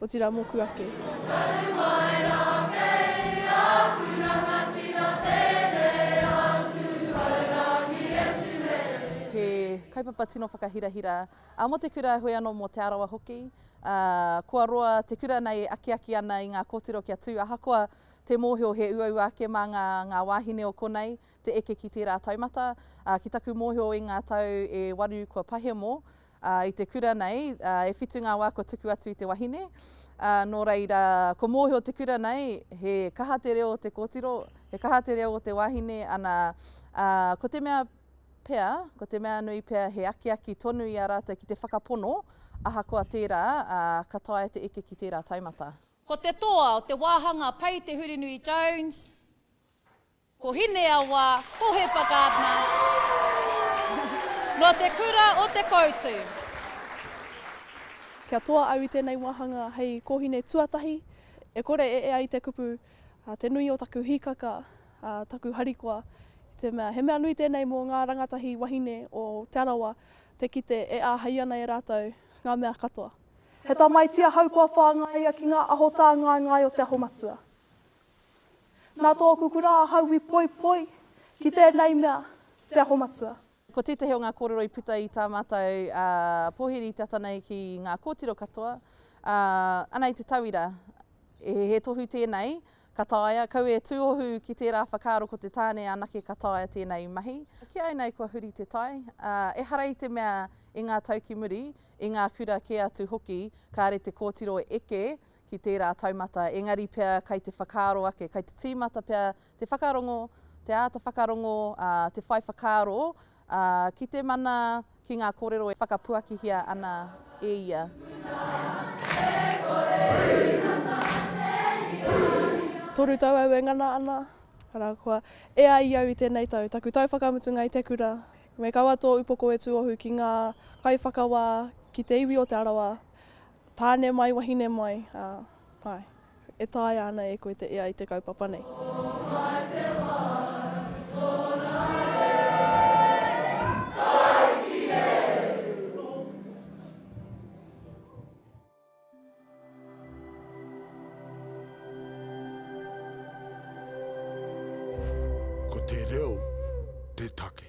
Otira moku ake. Taru mai ra kei aku rangatira teitei atu hai rangi atu nei. He kaupapa tino whakahirahira a mo te kura hoi ano mo Te Arawa hoki. A kua roa te kura nei e akiaki ana i nga kotiro kia tu ahakoa te mohio he uaua ake ma nga nga wahine o konei. te eke ki tērā taumata. Ā, ki taku mōhio i ngā tau e waru kua pahemo, ā, i te kura nei, ā, e whitu ngā wā kua tuku atu i te wahine. Ā, nō reira, kua mōhio te kura nei, he kaha te reo o te kōtiro, he kaha te reo o te wahine, ana, ā, ko te mea pea, ko te mea nui pea he akiaki tonu i a rātou ki te whakapono, ahakoa tērā, ā, ka taea te eke ki tērā taumata. Ko te toa o te wāhanga pai te Hurinui Jones. Ko Hineawa, ko Hepa Gardner, nō te kura o Te Koutu. Kia toa au i tēnei wāhanga hei kōhine tuatahi, e kore e ea i te kupu te nui o taku hīkaka, taku harikoa, i te mea he mea nui tēnei mō ngā rangatahi wahine o Te Arawa te kite e āhei ana e rātou ngā mea katoa. He tamaiti ahau kua whāngaia ki ngā aho tāngaengae o Te Aho Matua. Nā tōku kura ahau i poipoi ki tēnei mea, Te Aho Matua. Ko tētahi o ngā kōrero i puta i tā mātou pōhiri te ata nei ki ngā kōtiro katoa, ana i te tauira, he tohu tēnei ka taea, kaua e tūohu ki tērā whakaaro ko te tāne anake ka taea tēnei mahi. Kī ai nei kua huri te tai, ehara i te mea i ngā tau ki muri, i ngā kura kē atu hoki kāre te kōtiro eke, ki tērā taumata, engari pea kei te whakaaro ake, kei te tīmata pea te whakarongo, te āta whakarongo, ā, te whai whakaaro, ā, ki te mana, ki ngā kōrero e whakapuakihia ana e ia. Toru tau au e ngana ana, arā, kua e ai i au i tēnei tau, taku tau whakamutunga i te kura, me kaua tō upoko e tuohu ki ngā kaiwhakawā, ki te iwi o Te Arawa, Tāne mai, wahine mai, ā, āe. E taea ana e koe te ea i te kaupapa nei. Ko wai te wā i tōna e ai ki au? Ko te reo te take.